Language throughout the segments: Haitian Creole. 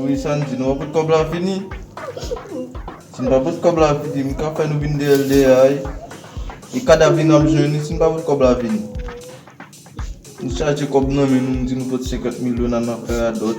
Wi Sandy, nou pa pot kòb la fini? Si nou pa pot kòb la fini, m ka fè nou vin deyè l deyè a e. E kadav li nan bezwen li si nou pa pot kòb la fini? Nou chaje kòb nan men nou, nou di nou pot 50 mil yo n al nan fè radòt.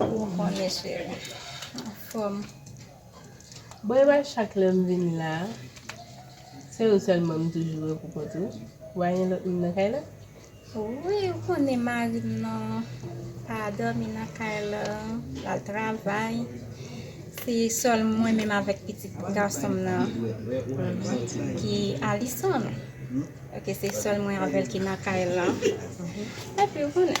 Ou konnen cheri. Anfòm. Bon epa chak lèm vin la se ou sèlman m toujou wè pou kont ou pa gen lòt moun nan kay la? Wi ou konnen marim nan pa dòmi nan kay la lal travay se sèl mwen menm avèk pitit gasonm nan ki Alison ok se sèl mwen avèl ki nan kay la epi ou konnen.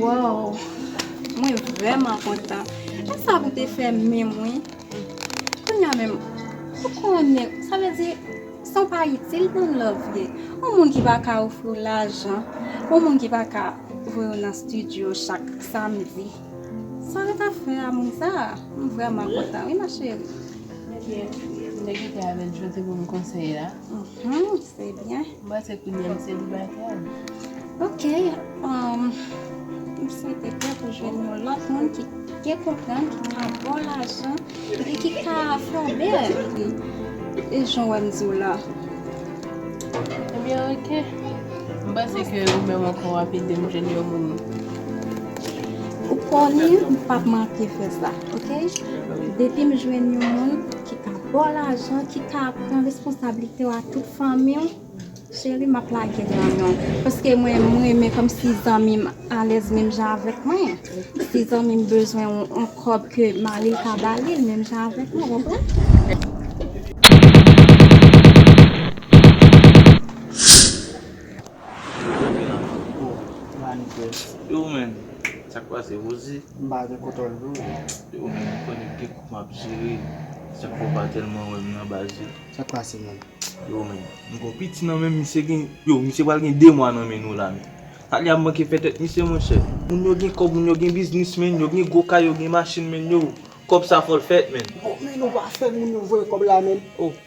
Woww mwen vreman kontan. Esa pou te fè menm wi. Kounya menm ou konnen sa vle di san pa itil nan love ye. Yon moun ki pa ka ofri w lajan, yon moun ki pa ka voye w nan studio chak samdi. Sa ret ap fè a moun sa? M vreman kontan wi ma chérie. Ebyen nèg yo te avèl jodi pou m konseye la. Uhmm se byen. M panse kounye a m selibatè. Ok umm m swete ke ou jwenn yon lòt moun ki gen konprann, ki ka baw lajan epi ki ka fòme avèk li e jan wè m diw la. Ebyen ok. M panse ke ou menm ankò wap edem jwenn yon moun. Ou konnen m pap manke fè sa ok. Depi m jwenn yon moun ki ka. Baw lajan ki ka pran responsablite w a tout fanmiw cheri map lage nan menw paske mwen m renmen komsi zanmim alèz menm jan avèk mwen si zanmim bezwen yon kob ke maril ka balil menm jan avèk mwen ou konprann. Yo menm sak pase Rosie. M pa gen koton dlo. Ou menm ou konnen ki kou map jere. Sak fè ou pa telman wèm nan baz yo. Sak pase menm. Yo menm. M gon piti nan menm misye gen. Yo misye pral gen 2 mwa nan men nou la menm. Talia ap manke fè tèt misye monchè. Moun yo gen kòb moun yo gen biznis menn. Yo gen gwo kay yo gen machin menn yo. Kòb sa fòl fèt menn. Bon menn ou pa fè moun yo voye kòb la menn.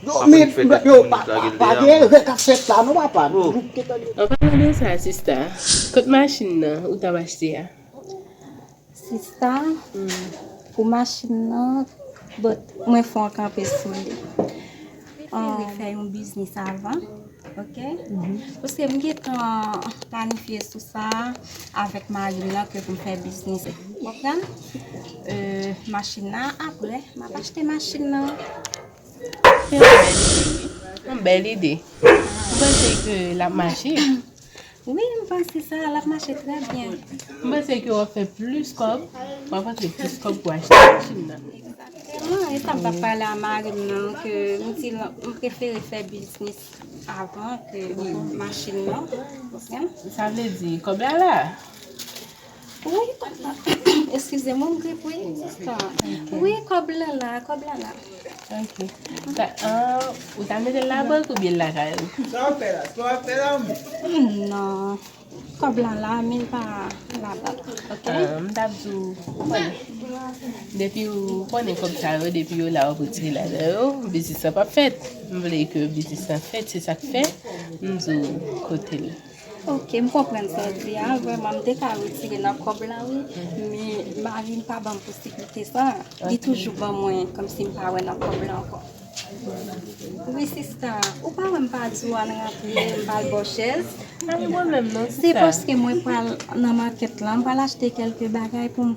Yo men yo pa gen erè kap fèt la non papa nou te tande. An palan de sa sista kot machin nan ou tap achte a. Sista pou machin nan bon mwen fè yon kanpe sou li mwen te vle fè yon biznis avan ok paske m gentan planifye sou sa avèk marim nan ke pou m fè biznis ou konprann machin nan aprè map achte machin nan. Se yon bèl ide wi. Yon bèl ide. Ou panse ke l ap mache? Wi, m panse sa. L ap mache trè byen. M panse ke w ap fè plis kòb. W ap rantre plis kòb pou achte machin nan. Egzakteman. E sa m t ap pale a mari m nan ke m di l m prefere fè biznis avan ke machin nan. Sa vle di kòb la la. Wi papa Eskize mwen m grip wi Wi kòb lan la Kòb lan la Ok Ou ta mete l nan bank oubyen l lakay ou Sa w ap fè la Sa w ap fè la menm Non Kòb lan la men l pa nan bank Ok M ta di w Ou konnen Depi ou konnen kòb sa yo depi yo la w ap retire ladan yo Biznis lan p ap fèt M vle ke biznis lan fèt se sa k fè m di w kote l Ok m konprann sa w di a vrèman m te ka retire nan kòb la wi men marim pa banm posiblite sa li toujou ban mwen kòmsi m pa wè nan kòb la ankò wi sista ou pa wè m pa di w al rantre m pa al ba w chèz se paske mwen pral nan makèt la m pral achte kèlke bagay pou m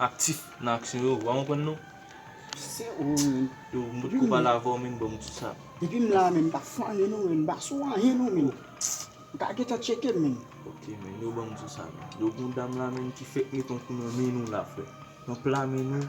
Aktif nan aksyon yo wa konprann non. Se ou menm. Yo m potko pale avè w menn banm ti sa. Depi m la menn m pa fane non menn m pa sou anyen non menn. Ou ka gentan tcheke m menn. Ok menn yo banm ti sa menn. Yo gon dam la menn ki fèk met yon kou nan men nou la frè. Nan pla men nou.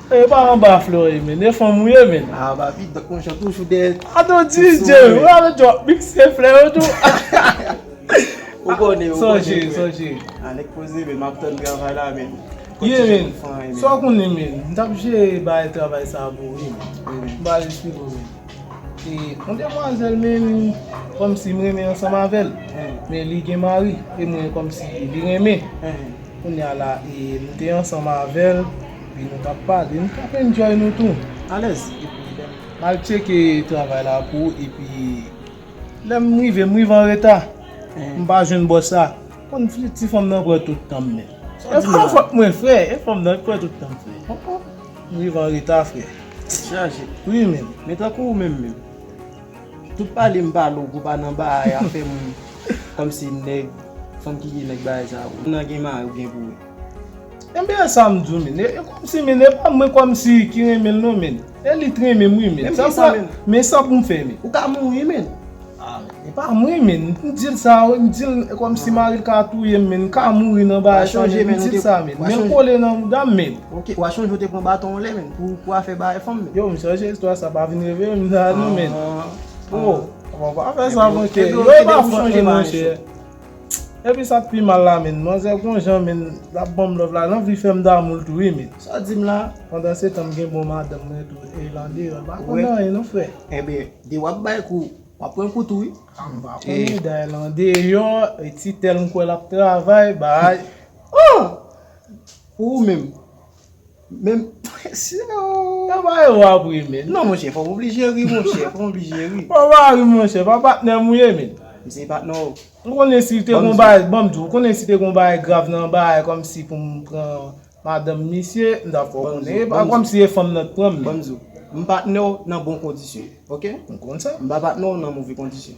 Eeh pa anba florey menn e fanm ou ye menn. Ah baby dòk mwen jan toujou dèyè ti souri. Atò DJ ou pa vle drop mix e flè yo tou. Ou konnen ou konnen frè. Sonje sonje. Ah nèg poze menn map tann travay la menn. Ye menn sa w konnen menn m tap jere bay travay sa pou ou wi menn. M pral esplike w menn. E yon demwazèl menn kòmsi m renmen ansanm avè l men li gen mari e mwen kòmsi li renmen kounya la e m te ansanm avè l. Wi nou tap pale nou tap enjoy nou tou alèz epi lèm mal tcheke travay la pou ou epi lèm rive m rive anreta m pa jwenn bòs la konn ti fanm nan pran tout tanm menm e fanm fòk mwen fre e fanm nan pran tout tanm fre m rive anreta fre tèt chaje wi menm men tankou ou menm menm tout pale m pale ou pou pa nan bagay afè moun kòmsi nèg fanm ki gen nèg bagay sa ou nan gen mari ou gen pou ou. Enben esam diw min e komsi min epa mwen komsi ki renmenl non min e li t renmenm wi min men sa poum fè min. Ou ka mouri min. Ah men epa mwen min m dil sa wi m dil komsi maril ka touyem min m ka mouri nan bagay sa min m dil sa min menl kole nan moudam min. Ok wa chonje ou te pran baton anlè min pou afè bagay fanm min. Yo m chanje istwa sa pa vin reveye m sa non min. Ohh pa fè sa monchè yo epa fòk li monchè. Epi sak pi mal la menn manzè gon jan menn lap banm love la lanvli fèm damoul tou wi menn. Sa dim la pandan se tan m gen bon madanm mwen tou e lan deyò l pa konn anyen non frè. Ebyen de wap bay kou wap pran kou tou wi. A m pa konnen dayè lan deyò e ti tèl m kwè lap travay bay ooh pou ou menm. Menm prese oo. Nan ba yo wap ri min. Non monchè fòm oblije ri monchè fòm oblije ri. Fòw pa ri monchè pa patnèm ou ye min. M se patnè w. Ou konnen si te gon bagay banm di w konnen si te gon bagay grav nan bagay kòmsi pou m pran madanm misye m tap fè w konnen epa kòmsi e fanm nan t pran m min. Banm di w m patnè w nan bon kondisyon ok. M konn sa. M pa patnè w nan move kondisyon.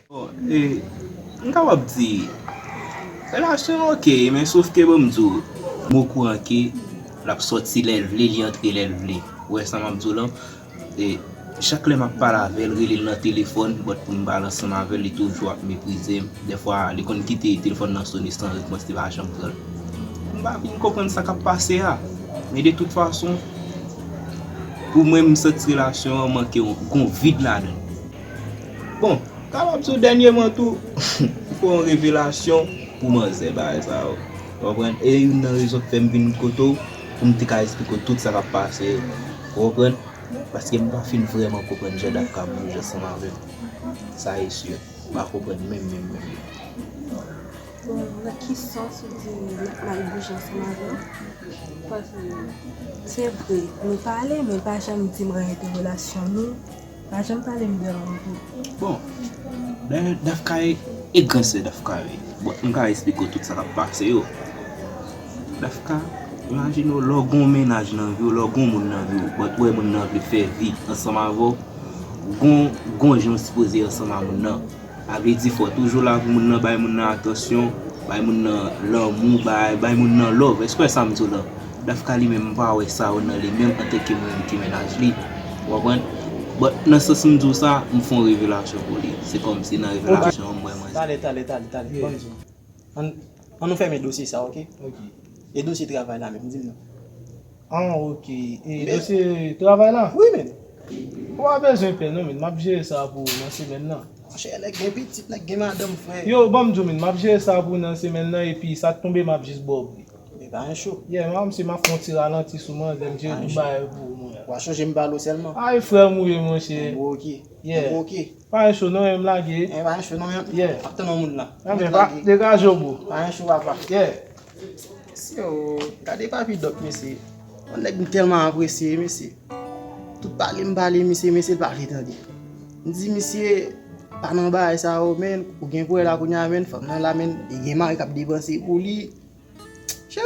E m kapab di relasyon an ok men sof ke banm di w m okouran ke l ap sòti lè l vle li antre lè l vle ou wè sa m ap di w lan e chak lè m ap pale avè l rele l nan telefòn bòt pou m pale ansanm avè l li toujou ap meprize m dèfwa li konn kite telefòn nan sone san repons li pa janm pran l m pa fin konprann sa k ap pase a men de tout fason pou mwen m santi relasyon an manke yon gon vid ladan l. Bon, kapab sou dènyeman tou, ou fè yon revelasyon pou manzè bagay sa yo. Ou konprann? E youn nan rezon ki fè m vin kote w, pou m te ka esplike w tout sa k ap pase yo. Ou konprann? Paske m pa fin vrèman konprann jan dat ka bouje ansanm avè m. Sa e si. M pa konprann menm menm menm. Bon, nan ki sans ou di dat la ap bouje ansanm avè w? Paske, se vre, nou pale, men l pa janm di m reyète relasyon nou. Pa janm pale m de Randoo. Bon Lè Daph Kare e gran sè Daph Kare bon m ka esplike w tout sa kap pase yo Daph Ka imajine w lè w gon mennaj nan vi w lè w gon moun nan vi w but ou wè moun nan vle fè vi ansanm avè w gon gon jan w sipoze ansanm a moun nan. Agredi fò, toujou la pou moun nan, bay moun nan atansyon, bay moun nan lanmou, bay, bay moun nan love. Èske w wè sa m di w la? Dafka li menm m pa wè sa yo nan li menm antanke mwen menm ki mennaj li. Ou konprann? But, nan sans m di w sa, m fon revelasyon pou li. Se kòmsi nan revelasyon an m wè manzè. Tale, tale, tale, tale, tale. Bon di m. An nou fèmen dosye sa ok. Ok. E dosye travay la menm dim non. An ok. E dosye travay la? Wi menm. Ou pa bezwen pè non menn map jere sa pou ou nan semèn nan. Monchè nèg gen pitit nèg gen madanm frè. Yo banm di w menn map jere sa pou ou nan semèn nan epi sak tonbe map jis ba w pri. Li pa yon cho. Yeah man msi map fon ti ralanti sou manzè mjere tout bagay pou ou mwen. Wa chonje m bal ou sèlman. Ay frè m ou ye monchè. Bon ok. Yeah. Bon ok. Pa yon cho non em lage. Enh pa yon cho non em yeah map tann yon moun lan. Nan men pa degaje w bro. Pa yon cho papa yeah. Mesye oo gade papi dòk mesye yon nèg m tèlman apresye mesye tout pale m pale misye mesye l pa vle tande m di misye pa nan bagay sa yo menn ou gen pou wè la kounya menn fanm nan la menn li gen mari kap depanse pou li chè.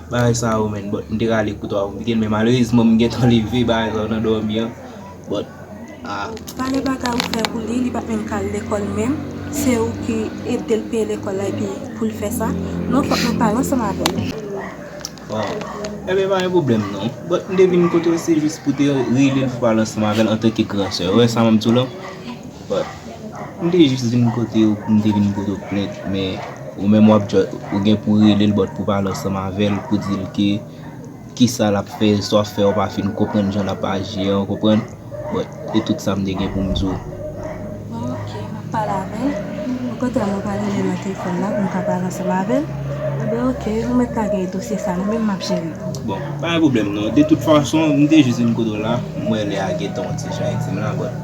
Bagay sa yo menn but m te rale kout a konplike men malerezman m gentan leve bagay sa yo nan dòmi an but ah. Pale bagay ou fè pou li, li pat menm ka al lekòl menm, se ou ki edel peye lekòl la epi poul fè sa, non fòk nou pale ansanm avèl. Waw Enben pa gen pwoblèm non but m te vin kote w se jis pou te relel fwa l ansanm avèl antanke gran sè ou wè sa map di w la. But m te jis vin kote ou pou m te vin poto plent men ou menm wap just ou gen pou rele l but pou pale ansanm avè l pou di l ke kisa lap fè sa wap fè ou pa fin konprann jan lap aji an ou konprann but se tout sa m te gen pou m di w. Bon ok map pale avè l okontrè mwen pral rele l nan telefòn la pou m ka pale ansanm avè l Ebyen ok ou mèt ka gen dosye sa mwen menm map jere l. Bon pa gen pwoblèm non de tout fason m te jis vin kote w la m wè lè a gentan yon ti jan dim la but.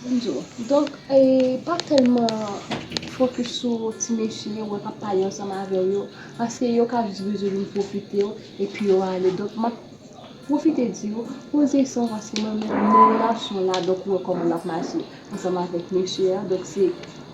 Bonjour. Donk pa tèlman fokis sou ti mesye yo wè kap pale ansanm avèw yo paske yo ka jis bezwen vin pwofitew epi yo ale donk map pwofite diw poze sanw paske mwen menm nan relasyon la donk ou wè kòman lap mache ansanm avèk mesye a donk se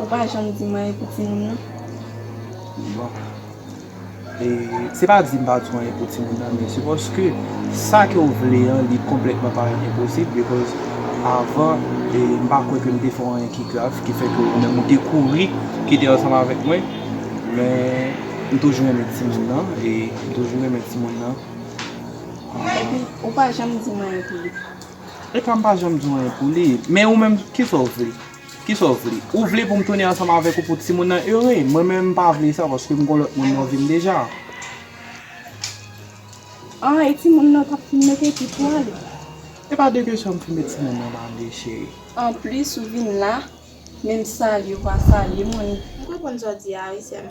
Ou pa janm dim anyen pou timoun nan. Bon. E se pa dim pa diw anyen pou timoun nan men se paske sa ke ou vle an li konplètman parèt enposib because avan e m pa kwè ke m te fè w anyen ki grav ki fè ke ou menm ou te kouri kite ansanm avèk mwen men m toujou renmen timoun nan e m toujou renmen timoun nan. Epi ou pa janm dim anyen pou li. Epa m pa janm di w anyen pou li. Men ou menm kisa w vle? Kisa w vle? Ou vle pou m tounen ansanm avèk ou pou timoun nan ere? Mwen menm m pa vle sa paske m gen yon lòt moun nan vi m deja. A, e timoun nan kap fin mete epi pou w ale? Epa de kesyon m fin met timoun nan ale cheri. Anplis ou vin la, menm salye w pa salye m. M konprann sa w di a wi sè m.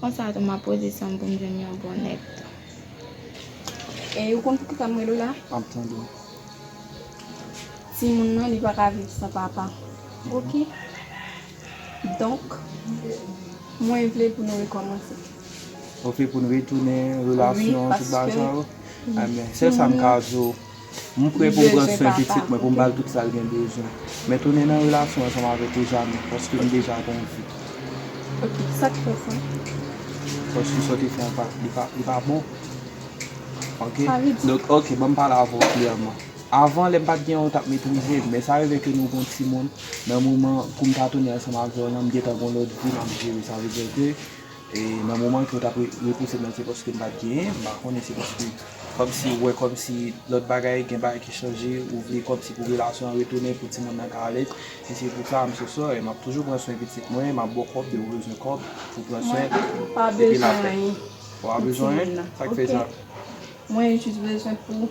Konsa tou map poze sanm poum jwenn yon bon nèg tou. E ou konn pou kisa m rele w la? Map tande w. Timoun nan li pa ka viv san papa. Ok. Donk mwen vle pou nou rekòmanse. Ok pou nou retounen relasyon tout bagay sa yo. Amè sèl sa m ka di w. M prè pou m pran swen pitit mwen, pou m ba l tout sa l gen bezwen. Men tounen nan relasyon ansanm avèk ou jamè, paske m deja gen yon fi. Ok, sa k fè sa? Paske sa w te fè an pa, li pa, li pa bon. Ok? Sa vle di. Donk, ok, ban m pale avè w klèman. Avan, lè m pa t gen ou, ou t ap metrize m. Men sa rive ke nou gen yon timoun, nan moman pou m ta tounen ansanm avè w lan, m gentan gen yon lòt vi m ap jere. Sa vle di ke. Nan moman ke w tap repouse m nan se paske m pat genyen, m pa konnen se paske kòmsi ou wè kòmsi lòt bagay gen bagay ki chanje ou vle kòmsi pou relasyon an retounen pou timoun nan ka alèz e se pou sa m so sorry map toujou pran swen pitit mwen map baw kòb dew bezwen kòb pou pran swen epi la fè ou pa bezwen anyen sak fè sa. Mwen jis bezwen pou.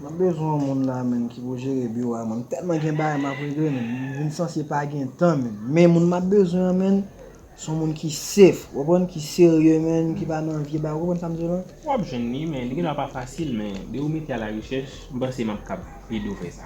Mwen bezwen yon moun la menn ki pou jere biwo a menn m tèlman gen bagay map regle menn m vin sanse pa gen tan menn men moun map bezwen an menn son moun ki sef ou konprann ki serye menn ki pa nan vye bagay ou konprann sam di w la. Wap jwenn li men li gendwa pa fasil men depi ou mete a la rechèch m panse map kap ede w fè sa.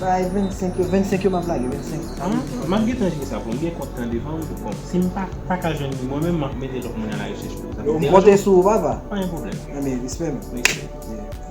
Bay 25 yo 25 yo map lage 25. Aah map gentan jwe sa poum gen kont tan devanm bon sim pa paka jwenn li mwen menm map mete lòt moun a la rechèch pou sa. Yo m konte sou ou papa. Pa gen pwoblèm. Anben respè m. Respè.